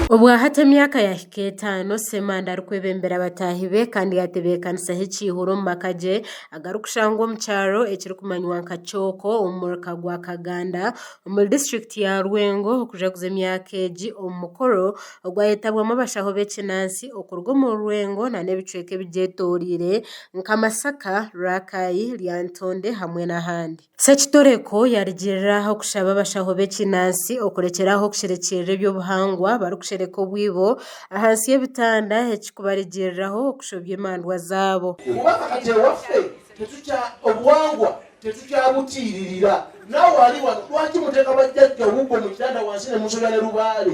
Obwahati emyaka yahika etaano, Ssemanda arikwebembera bataahi be kandi yaatebeekanisaho ekiihuro omu maka gye agarikushangwa omu kyaro ekirikumanywa nka Kyoko omu muruka gwa Kaganda omuri disiturikiti ya Lwengo kujaguza emyaka egi omu mukoro ogwayetabwamu abashaho b'ekinansi okuruga omu Rwengo nana ebicweka ebigyetoreire nka Masaka, Rakai, Lyantonde hamwe n'ahandi. Sekitoreko yarugirira aha kushaba abashaho b'ekinansi okurekyera aho okushirikiirira eby'obuhangwa barikushereka obwibo ahansi y'ebitanda ekikubarigiriraho okushobya emandwa zaabo. Kuba ahati ewaffe tetukya obuwangwa tetukyabutiiririra. Naawe ari wanu, lwaki muteeka bajjajja hubwo mu kitanda wansi ne mushobya ne lubaale?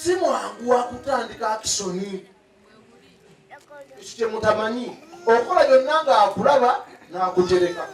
Si mwangu wa kutandika akishoni. Eki kye mutamanyi, okora byona ngu akuraba nakugyereka.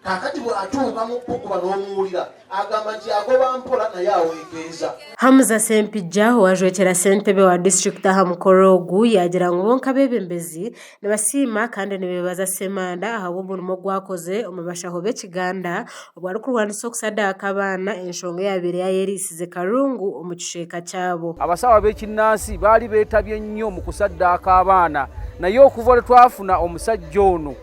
Kakati bwatuuka mu kukuba nomuwurira agamba nti yagoba mpora naye awekeeza. Hamza Sempijja owajwekyera sentebe wa district aha mukoro ogu yagira ngu bonka abebembezi Nibasiima kandi nibeebaza Ssemanda ahabw'omurimo ogu akoze omu bashaho b'Ekiganda obu arikurwanisa okusadaaka abaana, enshonga eyaabaire yaayereisize karungu omu kicweka kyabo. Abashaho ab'ekinansi baali beetabye nnyo omu kusadaaka abaana. Naye okuva ori twafuna omusajja onu,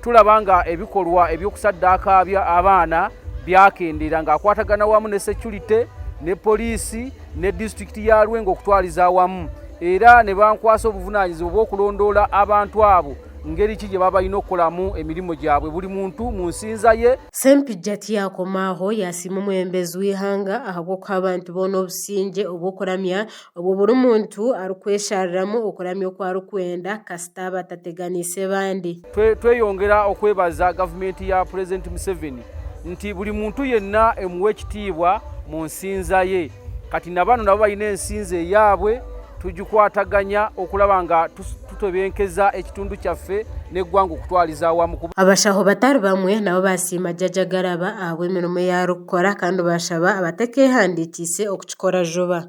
turaba ngu ebikorwa eby'okusadaaka abaana byakendeera, ngu akwatagana wamu ne securite, ne poliisi, ne disiturikiti ya Lwengo kutwariza awamu era nibankwasa obuvunanyizibwa bw'okulondora abantu abo ngeri ki gyebaaba baine okukoramu emirimo gyabwe buri muntu mu nsinza ye. Sempijja tiyakoma aho, yasiima omwebembezi w'eihanga ahabw'okuha abantu boona obusingye obw'okuramya obwo buri muntu arikweshariramu okuramya oku arikwenda kasita batateganiise bandi. Tweyongera okwebaza gavumenti ya Purezidenti Museveni nti buri muntu yena emuwa ekitiibwa mu nsinza ye. Kati na banu nabo baine ensinza eyabwe, tugikwataganya okuraba nga tutebenkeza ekitundu kyaffe n'egwanga okutwariza awamu. Abashaho batari bamwe nabo basiima Jaja Garaba ahabw'emirimo eyi arikukora kandi bashaba abatekehandikiise okukikora juba.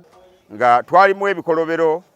Nga twarimu ebikorobero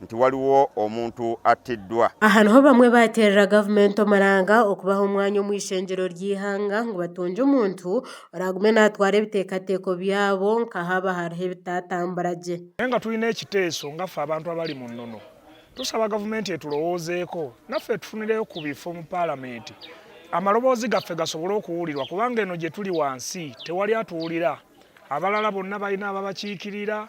nti waliwo omuntu attiddwa. Aha niho bamwe baateerera gavumenti omuranga okubaha omwanya omu ishengyero ry'eihanga ngu batungye omuntu oraagume naatwara ebiteekateeko byabo nka haaba hariho ebitaatambura gye. Nyenga twine ekiteeso nga ffe abantu abari mu nnono. Tusaba gavumenti eturowoozeeko naffe tufunireyo ku bifo omu Palamenti amaloboozi gaffe gasobole okuwulirwa kubanga eno gye tuli wansi tewali atuwulira. Abalala bonna balina ababakiikirira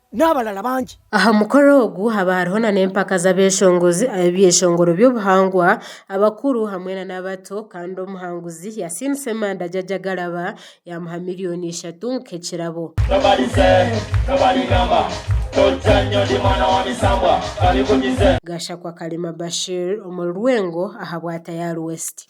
n'abalala bangi. Aha mukoro ogu haba hariho na n'empaka z'abeshongozi ab'ebyeshongoro by'obuhangwa, abakuru hamwe na n'abato kandi omuhanguzi Yasin Ssemanda Jaja Agaraba yamuha million ishatu nk'ekirabo. Gashakwa Kalema Bashir omuri Lwengo ahabwa Tayari West.